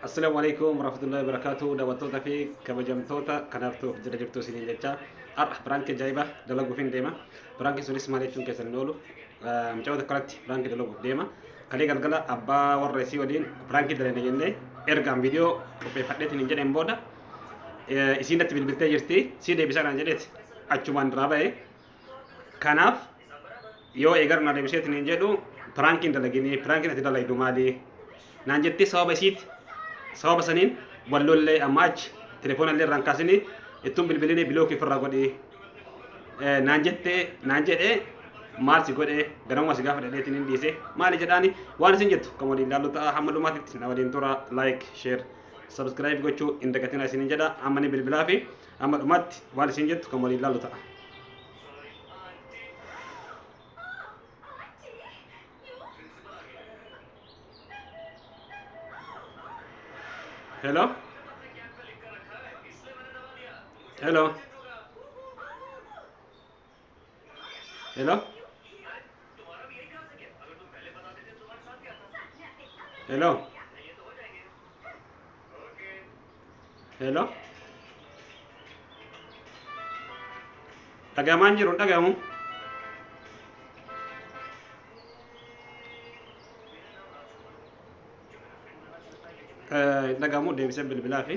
Assalamu alaikum warahmatullahi wabarakatuh daawwattoota fi kabajamtoota kanaaf ta'uuf jira jirtu isiniin jecha har'a piraanki ajaa'iba dalaguuf hin deema piraanki sunis maal jechuun keessan hin oolu mucaa tokko irratti piraanki dalaguuf deema kalee galgala abbaa warra isii waliin piraanki dalagna jennee ergaan viidiyoo qopheeffadheetiin hin jedheen booda isiin natti bilbiltee jirti sii deebisaa naan jedheeti achumaan duraa ba'ee Kanaaf yoo eegar na deebiseetiin hin jedhu piraankiin dalaginii piraankiin ati dalaydu maali naan jettee sababa isiiti sababa saniin wallollee amma achi telefoona illee irraan kaasinii ittuun bilbilinii bilookii ofirraa godhii Eh, naan jettee naan jedhee maal si godhee ganamuma si gaafa dhadheetiin hin dhiise maali jedhaani waan isin jettu kan waliin ilaallu ta'a hamma dhumaatitti na waliin tura like share subscribe gochuu hin dagatinaa isinin jedha amma ni bilbilaa fi Amma dhumaatti waan isin jettu kan waliin laalu ta'a. Hello? Hello? Hello? Hello? Hello? Dhagamaan jiru dhagamu. Dhagamu deebisee bilbilaa fi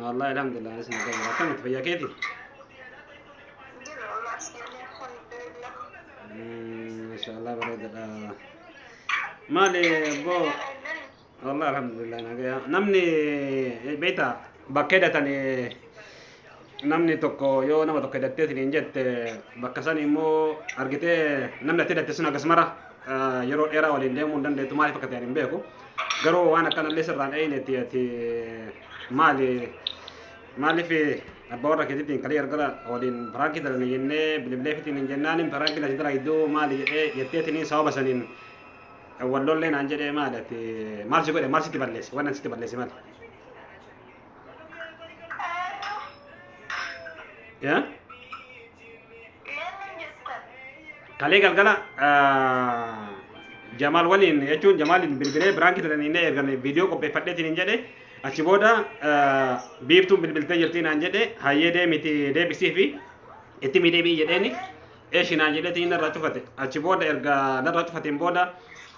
Wallah alhamdulillah anis nagaa jira. Akkamitti fayyaa keeti? Mashaallah bareedadha. Maali boo wallah alhamdulillah nagaa. Namni beekta bakka hidhatan namni tokko yoo nama tokko hidhattee siniin jette bakka san immoo argitee namni ati hidhatte sun akkasumara yeroo dheeraa waliin deemuu hin dandeettu maaliif akka ta'e hin beeku. Garuu waan akkanallee sirraan eeynetti ati Maali maaliif abbaa warra keetiitiin kalii argara waliin biraakii dalane jennee bilibleefitiin hin jennaanin biraakii lati dara iddoo maali jedhee jetteetiniin sababa saniin wal lollee naan jedhee maali ati maal si godhe maal sitti balleesse waan sitti balleesse maali. Yeah? Eenyuun jettan? Kalee galgala ah, Jamaal waliin jechuun Jamaaliin bilbilee biraankii turanii inni ergan viidiyoo qopheeffadheetiin hin jedhe achi booda ah, biiftuun bilbiltee jirtii naan jedhe hayyee deemiti deebisii fi itti mii deebi'i jedheeni eeshi naan jedheetiin narraa cufate achi booda erga narraa cufateen booda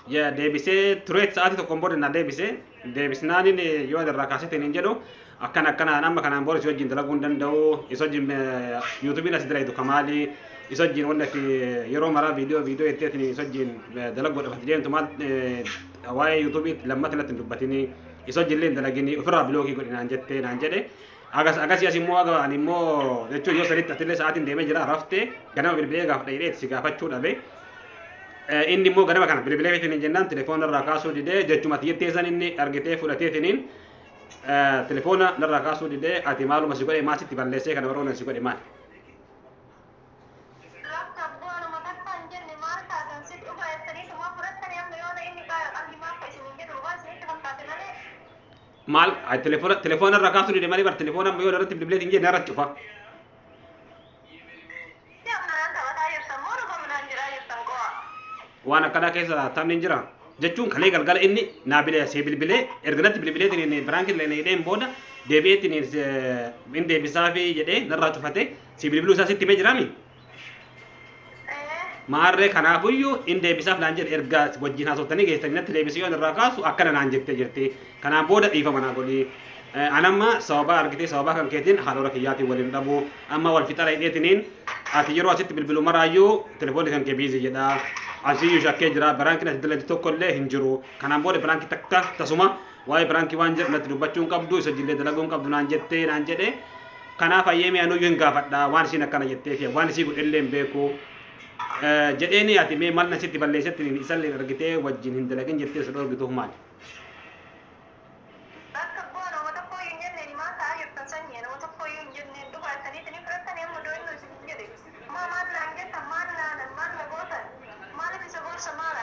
ya deebisee tureet sa'aatii tokkoon booda na deebisee deebisnaanin yoo ani irraa kaasee ta'in hin jedhu akkan akkanaan amma kanaan booda si wajjin dalaguu hin danda'u isa wajjin yuutuubiin asi dalagitu kamaali isa wajjin wanni ati yeroo maraa viidiyoo viidiyoo jettee ati isa wajjin dalaguudhaaf ati deemtu maal waa'ee yuutuubii lammata natti hin dubbatini isa wajjin illee hin dalagini ofirraa biloogii godhi naan jettee naan jedhe Agas agasii as immoo aga ani immoo jechuun yoo sanitti atillee sa'aatiin deemee jira raftee ganama bilbilee gaaf dhayidhee si gaafachuu dhabe. Eh, Inni immoo ganama kana bilbilee fitiniin jennaan telefoona irraa kaasuu didee jechuma ati jettee san inni argitee fudhatee tiniin eh, telefoona narraa kaasuu didee ati maaluma si godhe maal sitti balleessee kana warroon si godhe maal. Laafta abboonuma takka hin jenne maal taatan sitti dhufa jettaniituma fudhattanii amma yoona inni qalbimaa keessan hin jedhu waan isinitti fakkaate malee maal ay, telefoona telefoona irraa kaasuu dide malee bar telefoona amma yoo irratti bilbilee hin jenne irratti cufa Itti ammaraan taphataa jirtan moo dhufa midhaan jiraa jirtan qo'a. waan akkanaa keessa taphni hin jira jechuun kalee galgala inni naa bilee see bilbilee erga natti bilbilee tiniin biraankin illee hidheen booda deebi'ee tiniin hin deebisaa fi jedhee narraa cufatee si bilbiluu isaa sitti himee jiraami Maarree kanaafuyyuu hin deebisaaf naan jedhe erga wajjin haasoftanii geessanii natti deebisee yoon irraa kaasu akkana naan jettee jirti. Kanaan booda dhiifama naa godhi. Anamma sababaa argitee sababaa kan keetiin haadhora kiyyaatiin waliin dhabu. Amma wal fixara hidheetiniin ati yeroo asitti bilbilu maraayyuu telefoonni kan kee biizii jedha. Asiyyuu shakkee jira. Biraankiin ati dalagde tokko illee hin jiru. Kanaan booda biraankii takka tasuma Waa'ee piraankii waan jedhu natti dubbachuu hin qabdu isa jillee dalaguu hin qabdu naan jettee naan jedhe kanaaf hayyeemee anuyyuu hin gaafadha waan isiin akkana jettee fi waan isii godhellee hin beeku Eh, jedheeni ati mee maal na sitti balleessetti isallee argitee wajjin hin dalagin jettee isa dhorgituuf maali? Bakka bu'aa nama tokko iyyuu hin jenneen maal ta'aa jirtan sanyii nama tokko iyyuu hin jenneen dhugaa isanii isinii fudhatanii amma doo inni isin jedhe maa maal naan jettan maal naanan maal na gootan maaliif isa gorsa maala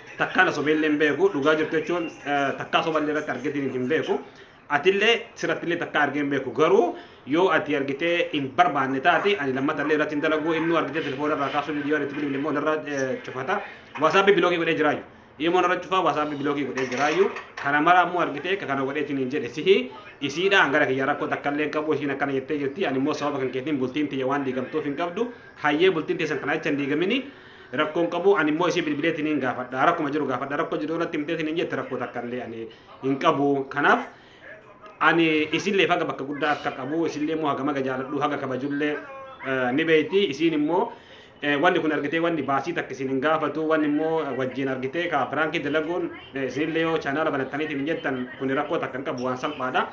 takkaa na sobeellee hin beeku dhugaa jirtu jechuun takkaa soballee irratti argetiin hin beeku atillee sirattillee takkaa argee hin beeku garuu yoo ati argitee hin barbaanne taate ani lammatallee irratti hin dalaguu inni argitee telefoona irraa kaasuu viidiyoo irratti bilbile immoo irra cufata waasaappii bilookii godhee jiraayu immoo irra cufaa waasaappii bilookii godhee jiraayu kana mara immoo argitee ka kana godheetiin hin jedhe sihi isiidha hangara kiyya rakkoo takkallee hin qabu isiin akkana jettee jirti ani immoo sababa kan keetiin bultiin tiyya waan diigamtuuf hin qabdu hayyee bultiin teessan kana jecha hin diigamini Rakkoon qabu ani immoo ishee bilbileetiin hin gaafadha. Rakkuma jiru gaafadha. Rakkoo jiru irratti himteetiin hin jette rakkoo takka illee ani hin qabu. Kanaaf ani isillee faga bakka guddaa akka qabu isillee immoo haga maga jaaladhu haga kabajullee eh, ni beeyti isiin immoo eh, wanni kun argitee wanni baasii takka isin hin gaafatu wanni immoo eh, wajjin argitee ka piraankii dalaguun eh, isinillee yoo chaanaala banattaniitiin hin jettan kun rakkoo takka hin qabu waan salphaadha.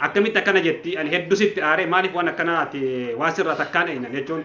Akkamitti akkana jetti ani hedduu sitti aaree maaliif waan akkanaati waan sirraa takkaan eenyaan jechuun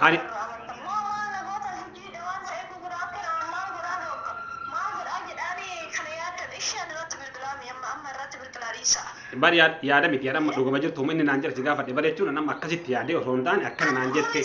Ani bar yaa- yaada miti yaada amma dhugama jirtu humni inni naan jedhe si gaafadhe bar jechuun nama akkasitti yaadee osoo hin taane akkana naan jette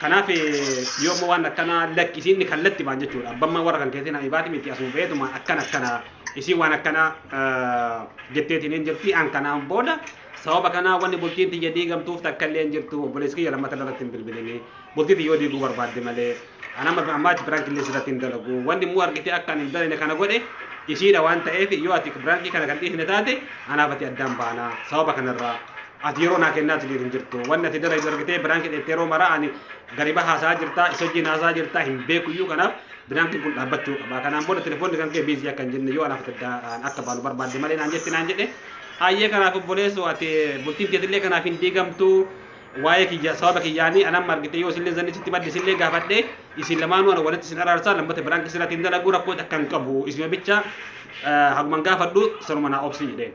Kanaaf yoo amma waan akkanaa lakki isiin kallattimaan jechuudha abbammaa warra kan keessin habibaati miti asuma beetumaan akkan akkana isiin waan akkanaa jetteetiin hin jirti an kanaan booda sababa kanaa wanni bultiin tiyya diigamtuuf takka illee hin jirtu obboleessi kiyya lammata irratti hin bilbilinii bultii tiyya yoo diiguu barbaadde malee an amma ammaa itti biraanki illee sirratti hin dalagu wanni immoo argitee akka ani hin dalane kana godhe isiidha waan ta'eef yoo ati biraankii kana kan dhiisne taate anaaf ati addaan baanaa sababa kanarraa Ati yeroo naa kennaa tiliir hin jirtu. Wanni ati dalaydu argitee biraanki dheettee yeroo maraa ani gariba haasaa jirtaa isa wajjin haasaa jirtaa hin beeku iyyuu kanaaf biraankiin kun dhaabbachuu qaba. Kanaan booda telefoonni kan kee biizii akka hin jenne yoo anaaf daddaan akka baalu barbaadde malee naan jetti naan jedhe. Ayyee kanaaf obboleessoo ati bultiin teetillee kanaaf hin diigamtu. Waa'ee kiyya sababa kiyyaanii anam argite yoo isillee zanni sitti madde isillee gaafadhe isin lamaanuu ana walitti isin araarsaa lammata biraanki sirratti hin dalagu rakkoo takka hin qabu isima bicha haguman gaafadhu sanuma naa obsi jedheen.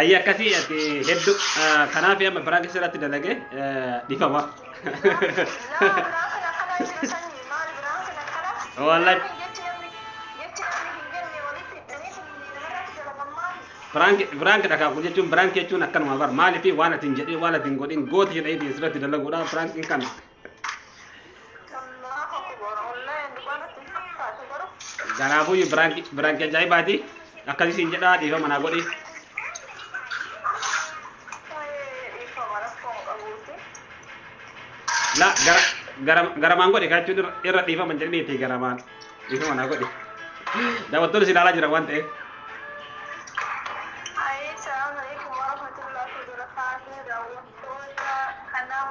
Ayya akkasii ati heddu kanaaf amma biraa keessa irratti dalage dhifama. Wallahi. Biraank biraank dhagaa kun jechuun biraank jechuun akkanuma bar maaliif waan ati hin jedhin waan ati hin godhin gooti jedhee asirratti dalaguudha biraank hin kana. Kanaafuu biraanki ajaa'ibaati. Akkasii siin jedhaa dhiifama naa godhi. La gara gara garamaan godhi kaa jechuun irra- irra dhiifama hin jedhini itti garamaan dhiifama naa godhi. Daawwattoonni si ilaalaa jiran waan ta'eef. Assalamu alaikum warahmatullahi wabarakatuh. Daawwattoota kanaaf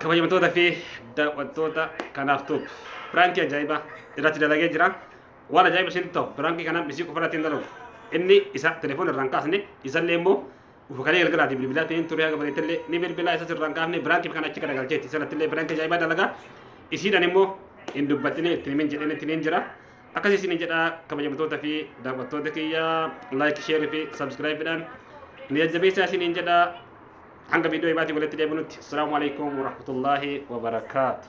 kabajamtoota fi daawwattoota kanaaf tuub piraankii ajaa'ibaa irratti dalagee jira waan ajaa'iba isinitti ta'u piraankii kanaan isii qofa irratti hin dalagu inni isa telefoon irraan kaasne isallee immoo ufukalee galgalaati bilbilaa ta'een turee haga bareetallee ni bilbilaa isas irraan kaafne piraankii kana achi garagalcheetti isanattillee piraankii ajaa'ibaa dalagaa isiidhaan immoo hin dubbatine itti himin jedheen itti himin jira Akkasii isin jedha kabajamtoota fi daawwattoota kiyya like share fi subscribe dhaan nu jajjabeessaa isiniin jedha hanga viidiyoo ibaatii walitti deebinutti. Assalaamu alaikum warahmatullaahi wabarakaatu.